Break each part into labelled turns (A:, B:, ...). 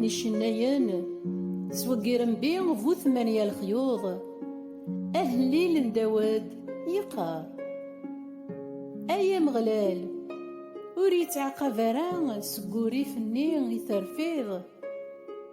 A: icennayen sweggirembi bu tmanya lexyuḍ ahlil n dawed yeqqar ay ameɣlal ur yettɛaqab ara seg urif-nni i terfiḍ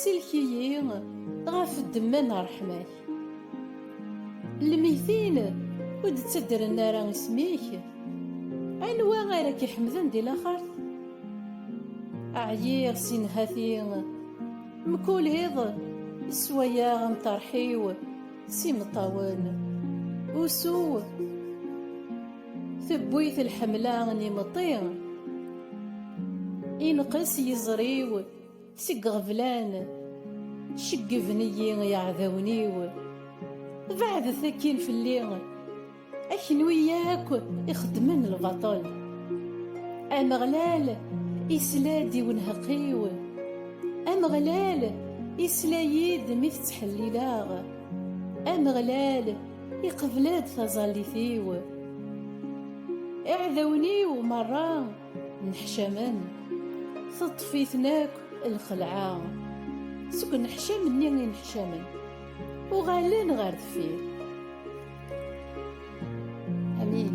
A: Sellek-iyi ɣef ddemma n ṛṛeḥma-k. Lmeyytin ur d-ttaddren ara isem-ik. Anwa ara k-iḥemden di laxert? Ɛyiɣ si nnhati, mkul iḍ sswayeɣ amṭarḥ-iw s imeṭṭawen. Usu tewwi-t lḥemla n imeṭṭi, ineqqes yiẓri-w. Seg iɣeblan ceggeben-iyi iɛdawen-iw Beɛdet akkin fell-i a kenwi yakk ixeddmen lbaṭel Ameɣlal isla-d i unheq-iw Ameɣlal isla-yi-d mi t-ttḥellileɣ Ameɣlal iqebl-d taẓallit-iw Iɛdawen-iw merra Nneḥcamen, teṭṭef-iten akk lxelɛa. Seg uneḥcam-nni i neḥcamen, uɣalen ɣer deffir. Amin.